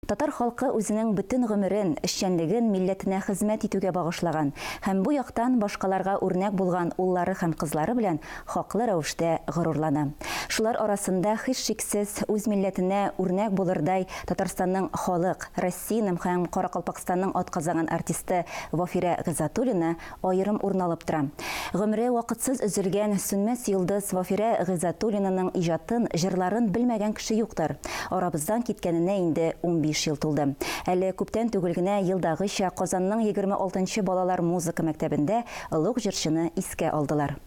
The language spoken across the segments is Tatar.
Татар халкы үзенең бөтен гомерен, эшчәнлеген милләтенә хезмәт итүгә багышлаган һәм бу яктан башкаларга үрнәк булган уллары һәм кызлары белән хаклы рәвештә горурлана. Шулар арасында, һичшиксез, үз милләтенә үрнәк булырдай Татарстанның халык, Россиянең һәм Каракалпакстанның атказанган артисты Вафирә Гыйззатуллина аерым урын алып тора. Гомере вакытсыз өзелгән сүнмәс йолдыз Вафирә Гыйззәтуллинаның иҗатын, җырларын белмәгән кеше юктыр. Арабыздан киткәненә инде унбиш ел тулды. Әле күптән түгел генә, елдагыча, Казанның егерме алтынчы балалар музыка мәктәбендә олуг җырчыны искә алдылар.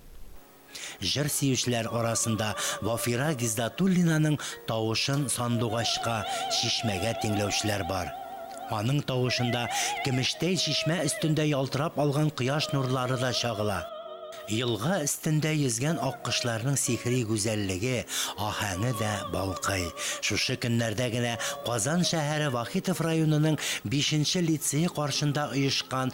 Җыр сөючеләр арасында Вафира Гиздатуллинаның тавышын сандугачка, чишмәгә тиңләүчеләр бар. Аның тавышында көмештәй чишмә өстендә ялтырап алган кояш нурлары да чагыла. Елга өстендә йөзгән аккошларның сихри гүзәллеге, аһәңе дә балкый. Шушы көннәрдә генә Казан шәһәре Вахитов районының бишенче лицее каршында оешкан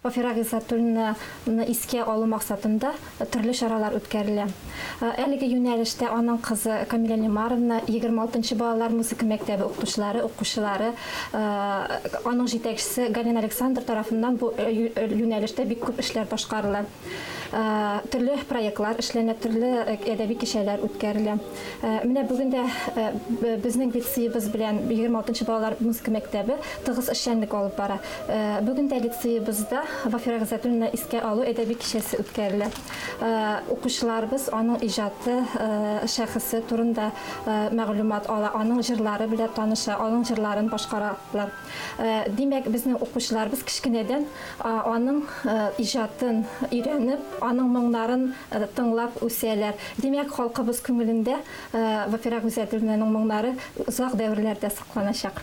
Фафира Гыйззәтуллина ны искә алу максатында төрле чаралар үткәрелә. Әлеге юнәлештә аның кызы Камилә Лимаровна, егерме алтынчы балалар музыка мәктәбе укытучылары, укучылары, аның җитәкчесе Галина Александр тарафыннан бу юнәлештә бик күп эшләр башкарыла. Төрле проектлар эшләнә, төрле әдәби кичәләр үткәрелә. Э, менә бүген дә э, безнең лицеебыз белән 26 балалар музыка мәктәбе тыгыз эшчәнлек алып бара. Э, бүген дә лицеебызда Вафира Гызатуллина искә алу әдәби кичәсе үткәрелә. Укучыларыбыз аның иҗаты, шәхесе турында мәгълүмат ала, аның җырлары белән таныша, аның җырларын башкаралар. Димәк, безнең укучыларыбыз кечкенәдән аның иҗатын өйрәнеп, аның моңнарын тыңлап үсәләр. Димәк, халкыбыз күңелендә Вафира Гузәдуллинаның моңнары озак дәверләрдә сакланачак.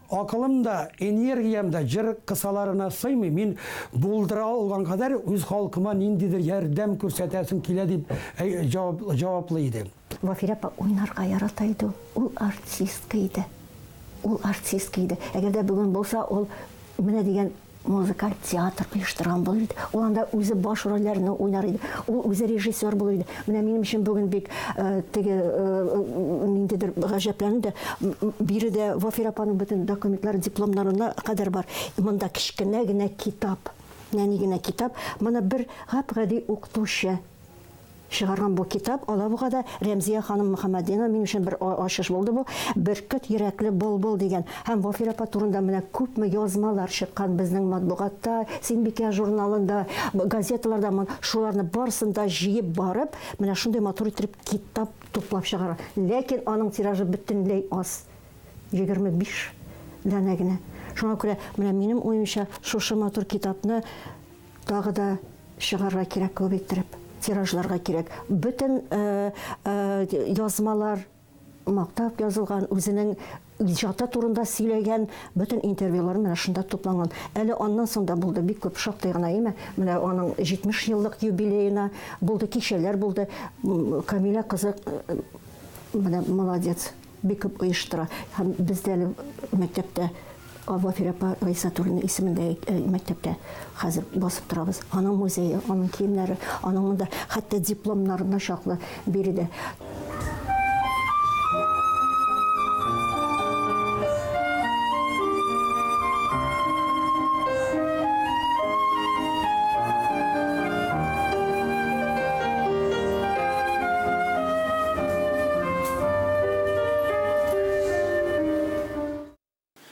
Акылым да, энергиям да җыр кысаларына сыймый, мин булдыра алган кадәр үз халкыма ниндидер ярдәм күрсәтәсем килә, дип җаваплый иде. Вафирә апа уйнарга ярата иде ул. Ул артистка иде. Ул артистка иде. Әгәр дә бүген булса, ул менә дигән Музыкаль театр оештырган булыр иде. Ул анда үзе баш рольләрне уйнар иде. Ул үзе режиссер булыр иде. Менә минем өчен бүген бик э, теге э, ниндидер гаҗәпләнү дә биредә Вафир апаның бөтен документлары, дипломнарына кадәр бар. Монда кечкенә генә китап. Нәни генә китап. Моны бер гап-гади укытучы Чыгарган бу китап Алабугада Рәмзия ханым Мөхәммәтдинова мин өчен бер ачыш булды бу. Бөркет йөрәкле былбыл дигән һәм Вафир апа турында менә күпме язмалар чыккан безнең матбугатта, Синбикә журналында, газеталарда мон шуларны барысын да җыеп барып, менә шундый матур иттереп китап туплап чыгарган. Ләкин аның тиражы бөтенләй аз, егерме биш данә генә. Шуңа күрә, менә минем уемча, шушы матур китапны, Тагы да чыгарга кирәк күп иттереп, тиражларга кирәк. Бөтен язмалар мактап язылган, үзенең иҗаты турында сөйләгән бөтен интервьюлар менә шунда тупланган. Әле аннан соң да булды бик күп шактый гына име. Менә аның 70 еллык юбилеена булды, кичәләр булды. Камилә кызы менә молодец. Бик күп оештыра. Һәм бездә әле мәктәптә Вафир апа Раисатуллина исемендәге мәктәптә хәзер басып торабыз. Аның музее, аның киемнәре, аның монда хәтта дипломнарына чаклы биредә.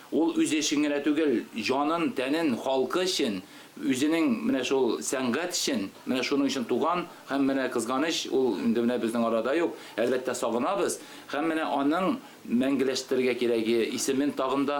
Ул үз эшен генә түгел, җанын, тәнен халкы өчен, үзенең менә шул сәнгать өчен, менә шуның өчен туган һәм менә, кызганыч, ул инде менә безнең арада юк, әлбәттә, сагынабыз һәм менә аның мәңгеләштерергә кирәге исемен тагын да.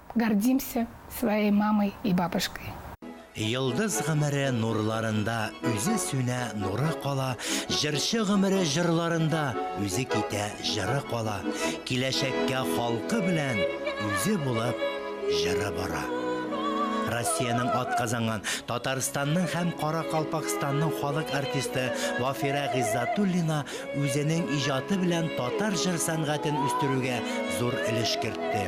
Гордимся своей мамой и бабушкой. Йолдыз гомере нурларында Үзе сүнә, нуры кала, Җырчы гомере җырларында Үзе китә, җыры кала. Киләчәккә халкы белән Үзе булып җыры бара. Россиянең атказанган, Татарстанның һәм Каракалпакстанның халык артисты Вафирә Гыйззатуллина үзенең иҗаты белән татар җыр сәнгатен үстерүгә зур өлеш кертте.